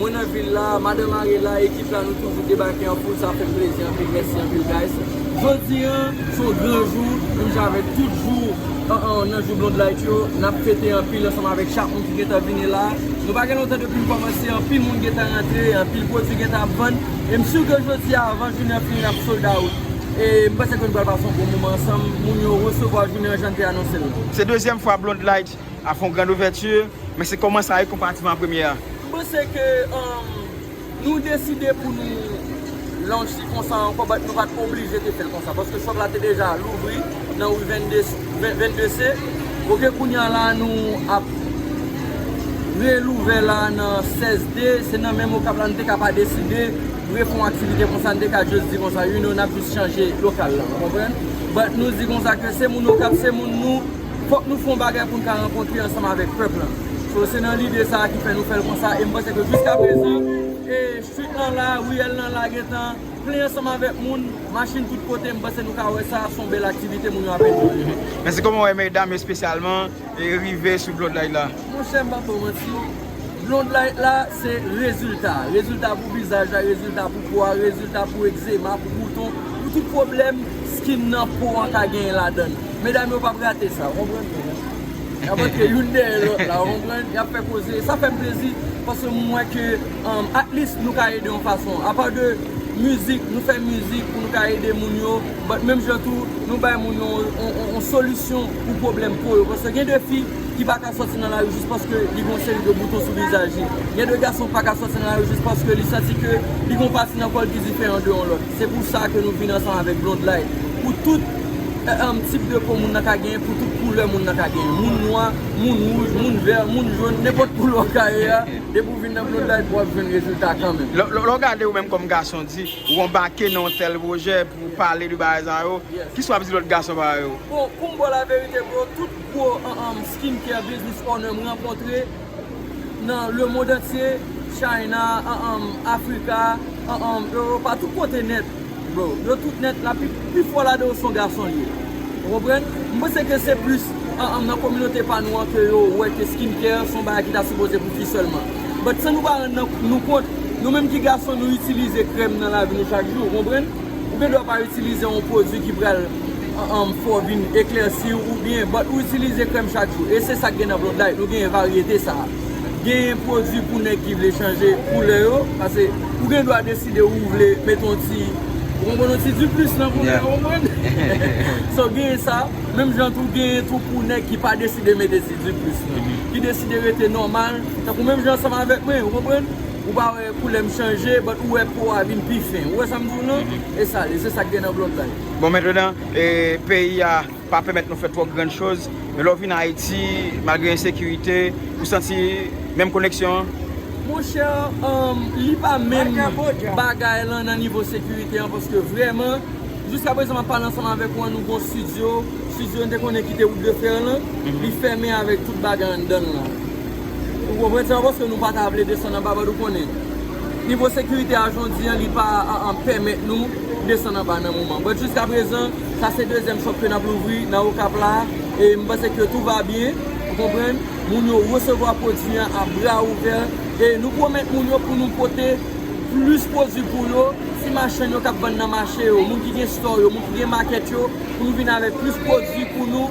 Mwen nan vil la, madan mare la, ekip la nou toujou debake an foul sa fèm plezi anpil mèsi anpil guys. Jodi an son gran jou menm jan avèk tout jou nan jou Blondlight yo nap fete anpil ansanm avèk chak moun ki gentan vini la nou pa gen lontan depim kòmanse anpil moun gentan rantre anpil pwodwi gentan ap vann e m sur ke jodi a avan jounen an fini nap sold out e m panse ke nou pral pase yon bon moman ansanm moun yo resevwa jounen an jan n te anonse l la. Se dezyèm fwa Blondlight A fon grand ouverture. Men se koman sa wi konpatiman premye a. M panse ke nou deside pou nou lounch li konsa ankò but nou pat oblije te fèl konsa paske shop la te deja louvri nan rue 22 se ok kounya la nou ap relouvè la nan 16 D se nan menm okap la nou te ka pa deside refon aktivite konsa nou te ka just di konsa you know nap just chanje lokal la ou konprann but nou di konsa ke se moun okap se moun nou. Fòk nou fè yon bagay pou n ka rankontre ansanm avèk pèp lan. So se nan lide sa a ki fè nou fè l konsa e m panse ke jiskaprezan street lan la, riyèl lan la gen tan plen ansanm avèk moun, machin tout kote, m panse nou ka wè sa a s on bèl aktivite moun yo ap enjoye. Mèsi. Kòman w wè medam espesyalman rive sou Blodline la? Monchè m pap ba w manti, Blondlight la se rezilta. Rezilta pou vizaj la, rezilta pou po a, rezilta pou egzema, pou bouton, pou tout pwoblèm skin nan, po an ka genyen ladan l. Medam yo pap rate sa, konprann mwen la. Y ap antre youn dèyè lòt la, konprann, y ap fè koze. Sa fè m plezi paske m wè ke atlis nou ka ede yon fason. Apa de mizik, nou fè mizik pou nou ka ede moun yo, but menm jan tou nou bay moun yo yon solisyon pou pwoblèm po yo. Paske gen de fi. ki pa ka sòti nan lari jis paske li gen yon seri de bouton sou vizaj li. Gen de gason ki pa ka sòti nan lari jis paske li santi ke li gen yon pati nan kò l ki diferan de yon lòt. Se pou sa ke nou vin ansanm avèk Blondlight. Pou tout tip de po moun nan ka genyen, pou tout koulè moun nan ka genyen. Moun nwa, moun wouj, moun vè, moun jòn, nenpòt koulè w ka ye a, depi w vin nan Blondlight w ap jwenn rezilta kanmenm. Lè w gade ou menm kòm gason di, ou anbake nan yon tèl pwojè pou pale de bagay sa yo, kisa w ap di lòt gason parèy ou? Bon, pou m ba w laverite bro, tout. Gwo skin care business owner m rankontre nan le mond antye, China, Africa, Europa, tout kote nèt bro. Yo tout nèt la pi fò ladan yo son gason li ye. Ou konprann? M panse ke se plis nan kominote pa nou an ke yo wè ke skin care son bagay ki ta sipoze pou fi sèlman. But san nou pa rann nou kont, nou menm ki gason nou itilize krèm nan lavi nou chak jou. Ou konprann? Ou gen dwa pa itilize yon pwodui ki pral fè w vin eklèsi ou byen, but ou itilize krèm chak jou. E se sa k gen nan Blondlite, nou gen varyete sa a. Gen pwodui pou nèg ki vle chanje koulè yo, pase ou gen dwa deside ou vle mete yon ti, ou konprann, yon ti diplis nan koulè ou, konprann? So gen sa, menm jan tou gen tou pou nèg ki pa deside mete ti diplis nan, ki deside rete nòmal, tankou menm jan ansanm avèk mwen, ou konprann? Ou pa wè koulèm chanje but ou wè po a vin pi fen. Ou wè sa m di w lan? E sa l ye, se sa k gen nan blond la yo. Bon mentredan, peyi a pa pèmèt nou fè twò grann choz, men lè w vin Ayiti, malgre ensekirite, ou santi menm koneksyon an? Mon chè, li pa menm bagay lan nan nivo sekirite an paske vrèman, jiska prezan m ap pale ansanm avèk ou an nou gon studio, studio n te konnen ki te Route de Fer lan, li fèmen avèk tout bagay anndan l lan. Ou konprann sa paske nou pa ta vle desann anba bad ou konnen. Nivo sekirite a jondi an li pa pèmèt nou desann anba nan moman. But jiska prezan sa se dezyèm shop ke nap louvri nan okap la e m panse ke tou va byen ou konprann. Moun yo resevwa pwodui an a bra ouvè e nou pwomèt moun yo pou nou pote plis pwodui pou yo, ti machann yo kap vann nan mache yo, moun ki gen store yo, moun ki gen market yo pou nou vin avèk plis pwodui pou nou.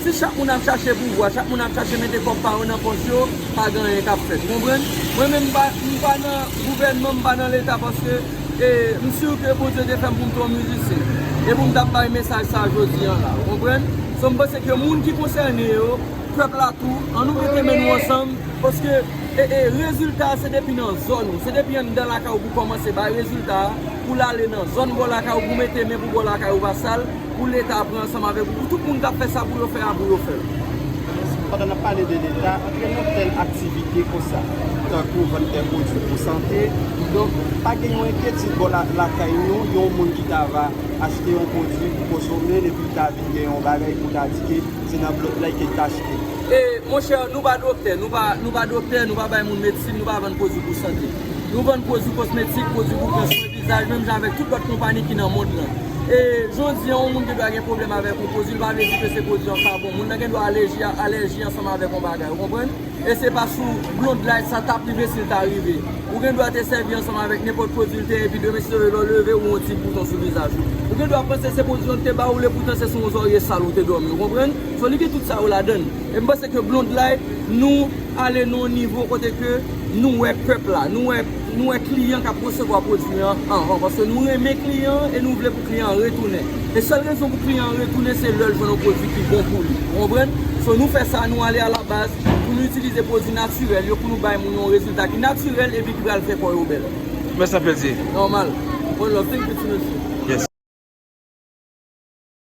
Si chak moun ap chache pouvwa, chak moun ap chache mete kòb pa yo nan pòch yo, pa gen anyen k ap fèt. Ou konprann? Mwen menm m pa m pa nan gouvènman, m pa nan leta paske e m sur ke Bondye te fè m pou m te yon mizisyen e pou m t ap bay mesaj sa jodi an la. Ou konprann? So m panse ke moun ki konsène yo, pèp la tou, an nou mete men nou ansanm paske e e rezilta a se depi nan zòn ou, se depi anndan lakay ou pou w kòmanse bay rezilta a pou l ale nan zòn bò lakay ou pou w mete men pou bò lakay ou pa sal. Pou leta pran ansanm avèk ou pou tout moun kap fè sa pou yo fè a pou yo fèl. Pandan nap pale de leta, antre nan tèl aktivite konsa, tankou vann tè pwodwi pou sante, donk pa gen yon enkyetid bò lakay nou yon moun ki ta va achte yon pwodwi pou konsome l epi l ta vin gen yon bagay pou ta di ke se nan blòk lay ke l t achte. E monchè nou pa doktè, nou pa nou pa doktè, nou pa bay moun medsin, nou pa vann pwodwi pou sante. Nou vann pwodwi kosmetik, pwodwi pou pran swen. Vizaj menm jan avèk tout lòt konpani ki nan mond lan. E jodi an yon moun gen dwa gen pwoblèm avèk yon pwodui li pa vle di ke se pwodui an pa bon. Moun nan gen dwa alèji a alèji ansanm avèk yon bagay ou konprann? E se pa sou Blondlight sa tap rive si l ta rive. Ou gen dwa te sèvi ansanm avèk nenpòt pwodui l te enpi demen si lè w leve ou yon ti bouton sou vizaj ou. Ou gen dwa panse se pwodui an ki te ba ou l epoutan se sou yon zòrye sal ou te dòmi ou konprann? So li gen tout sa yo ladan l. E m panse ke Blondlight nou ale nan yon nivo kote ke nou wè pèp la, nou wè. Nou wè kliyan k ap resevwa pwodui an anvan paske nou renmen kliyan an e nou vle pou kliyan an retounen. E sèl rezon pou kliyan an retounen se lè l jwenn yon pwodui ki bon pou li. Ou konprann? So nou fè sa, nou ale alabaz pou nou itilize pwodui natirèl yo pou nou bay moun yon rezilta ki natirèl epi ki pral fè kò yo bèl. Mèsi anpil di. Nòmal. One love. Thank you ti mesye.